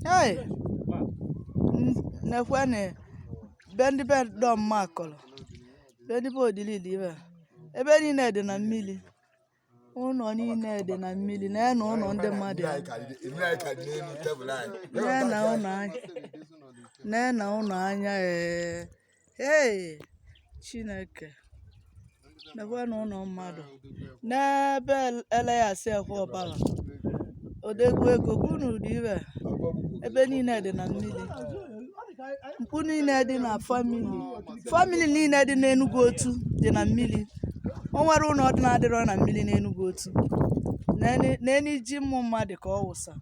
Hey! Nekwene be ndị be Dom Makolo be ndị be Odili dị ibe ebe niile dị na mmiri ụnọ niile dị na mmiri nene ụnọ ndị mmadụ ya nene ụnọ anya nene ụnọ anya ee Hey! Chineke. Nekwene ụnọ mmadụ. Nee be Elias ekwe ọbara. Odegwu ego bụ ụnọ dị ibe. Ebe niile dị na mmiri. Mkpu niile dị na famili. Famili niile dị n'Enugwu Otu dị na mmiri. O nwerọ ụnọ dị na-adịrọ na mmiri n'Enugwu Otu. Nene- Nene ji ụmụ mmadụ ka ọ wụsa.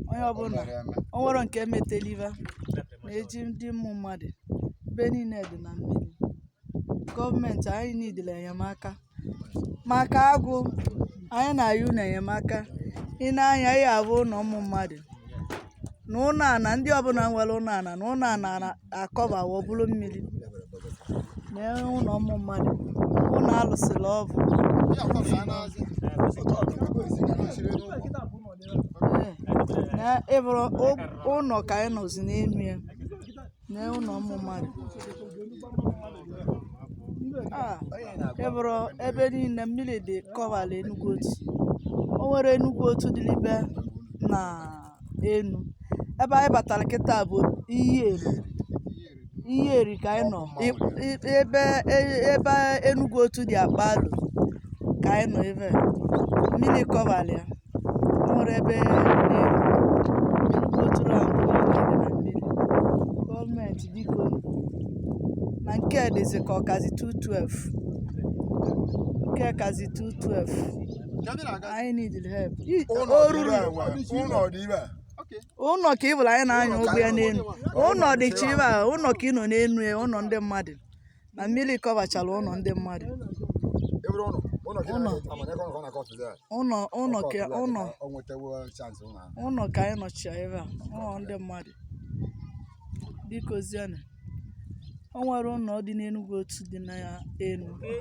Onye ọbụla. O nwerọ nke meteliva. nee ji ndị ụmụ mmadụ ebe niile dị na mmiri gọọmenti anyị needere enyemaka maka agụụ anyị na-ayọ unu enyemaka ị na-ene anya a bụ ụnọ ụmụ mmadụ nee ụnọ ana ndị ọbụla nwere ụnọ ana nee ụnọ ana akọbawo ọ bụrụ mmiri nee ụlọ ụmụ mmadụ ụnọ a lụsịrị ọvụụ na ị vụrụ ụnọ ka anyị nọzi n'elu ya nee ụnọ ụmụ mmadụ Ah, ị vụrụ ebe niile mmiri dị kọbara Enugu Otu o nwerọ Enugu Otu dịlibe na enu ebe anyị batara kịta bụ Iyi Eri Iyi Eri ka anyị nọ ebe ebe Enugu Otu ji akpa alo ka anyị nọ ebe mmiri kọbara ya o nwerọ ebe gọọmenti biko na nke a dịzi ka ọ kazi 212 nke a kazi 212 anyị need help o ruru ụlọ ka ị bụrụ anyị na-anya ụgbọ ya n'elu ụlọ dị chiva ụlọ ka ị nọ n'elu ya ụlọ ndị mmadụ na mmiri kọbachara ụlọ ndị mmadụ Ebere ụlọ. Ụlọ ka ị Ụlọ. na-aga- ama na ego ọ na-akọtụ ya. ụlọ ụlọ ka Ọkọtụ ya, ụlọ o nwetewo chance ụlọ ahụ. ụlọ ka anyị nọchi ya ebe a ụlọ ndị mmadụ biko zianụ o nwere ụlọ dị n'enugwu otu dị na ya enu